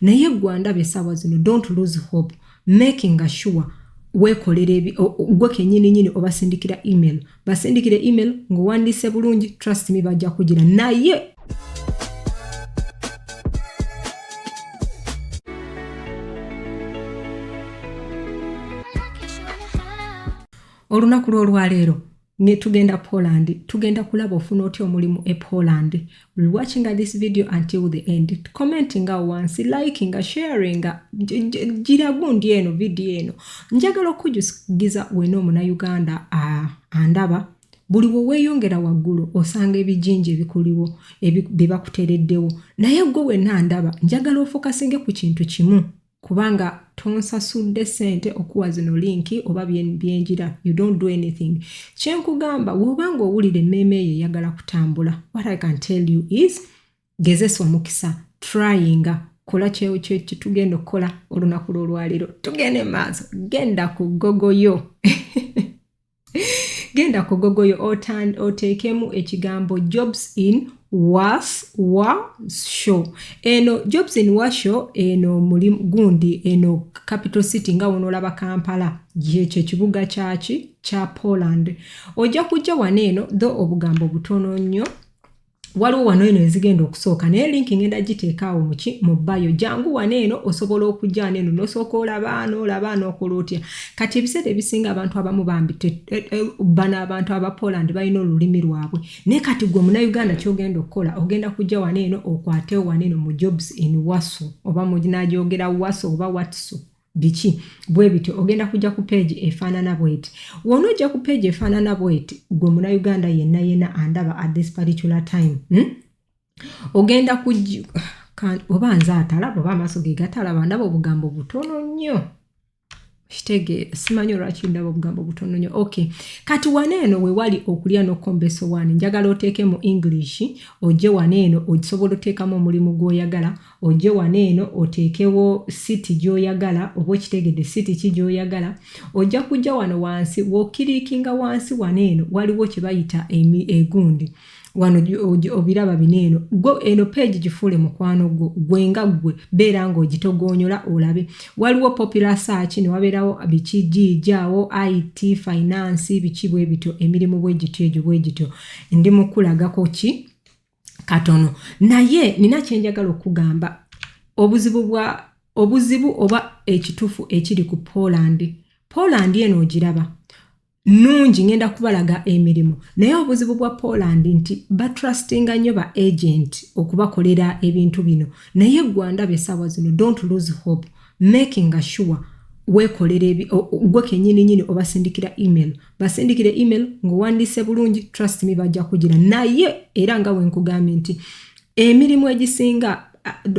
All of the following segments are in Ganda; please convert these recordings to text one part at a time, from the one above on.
naye gwe andaba esaawa zino don't lose hope making sure wekolera gwe kenyini nyini obasindikira email basindikire email ngaowandiise bulungi trust me bajja kugira naye olunaku lwolwaleero ne tugenda poland tugenda kulaba ofuna otya omulimu e poland will watching this video until the end commentinga wansi likinga sharinga gira gundi eno vidiyo eno njagala okukujugiza wena omunauganda andaba buli weweyongera waggulu osanga ebijinja ebikuliwo byebakutereddewo naye gwe wena ndaba njagala ofokasinge ku kintu kimu kubanga tonsasudde sente okuwa zino linki oba byenjira you don't do anything kyenkugamba woba nga owulira emmeeme eyo eyagala kutambula what i can tell you is gezesa omukisa tryinga kola kyetugenda okukola olunaku lwolwaliro tugende maaso genda ku gogo yo genda kugogoyo oteekemu ekigambo jobs in was wa show eno jobs in wa show eno muli gundi eno capital city nga wonoolaba kampala gyekyo ekibuga kyaki kya poland ojja kujja wano eno tho obugambo butono nnyo waliwo wano eno ezigenda okusooka naye linki ngenda giteeka awo muki mu bayo jangu wano eno osobola okujana eno nosooka olabaano olabaano okola otya kati ebiseera ebisinga abantu abamu bambi e, e, bano abantu aba poland balina olulimi lwabwe naye kati gwe munauganda kyogenda okukola ogenda kujja wano eno okwatewo wano eno mu jobs in waso oba munagyogera waso oba watso biki bwe bityo ogenda kujja ku peegi efaanana bweti wona ojja ku peegi efaanana bweti gwe muna uganda yenna yenna andaba at this particular time hmm? ogenda kujja oba nze atalaba oba amaaso ge gatalaba ndaba obugambo butono nnyo kitegeera simanyi olwaki ndaba obugambo butono nyo ok kati wana eno wewali okulya nokombeso wani njagala oteekemu english oje wana eno ogisobola oteekamu omulimu gwoyagala ojje wano eno oteekewo siti gy'oyagala oba okitegedde siti ki gy'oyagala ojja kujja wano wansi wokiriikinga wansi wano eno waliwo kye bayita egundi e wano obiraba bino eno gwe eno page gifuule mukwano gwo gwe nga gwe beera ng'ogitogoonyola olabe waliwo popular search ne wabeerawo biki giijaawo it finance biki bwe bityo emirimu bwe gityo egyo bwe gityo ndi mukulagako ki katono naye nina kyenjagala okugamba obuzibu bwa obuzibu oba ekitufu ekiri ku poland poland eno ogiraba nungi ngenda kubalaga emirimu naye obuzibu bwa poland nti batrustinga nnyo ba agent okubakolera ebintu bino naye gwanda besaawa zino don't lose hope making a sure wekolera gwe kenyini nyini obasindikira email basindikire email ng'owandiise bulungi trust me bajja kugira naye era nga wenkugambye nti emirimu egisinga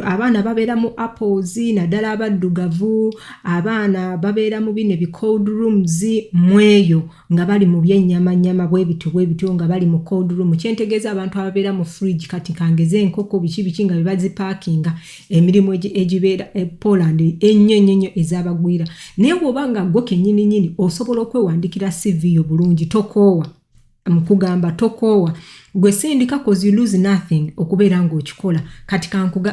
abaana babeera mu apples naddala abaddugavu abaana babeera mu bino ebicold rooms mweyo nga bali mu byennyamanyama bwe bityo bwe bityo nga bali mu cold room kyentegeeza abantu ababeera mu fridge kati kangeze enkoko biki biki nga bebazipaakinga emirimu egibeera e poland ennyo ennyo nnyo ezabagwira naye woba nga gwo kenyini nyini osobola okwewandikira cv yo bulungi tokoowa mukugamba tokoowa gwe sindika cause you lose nothing okubeera ngaokikola kati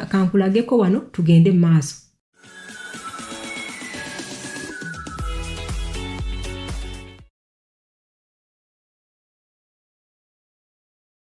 kankulageko wano tugende mu maaso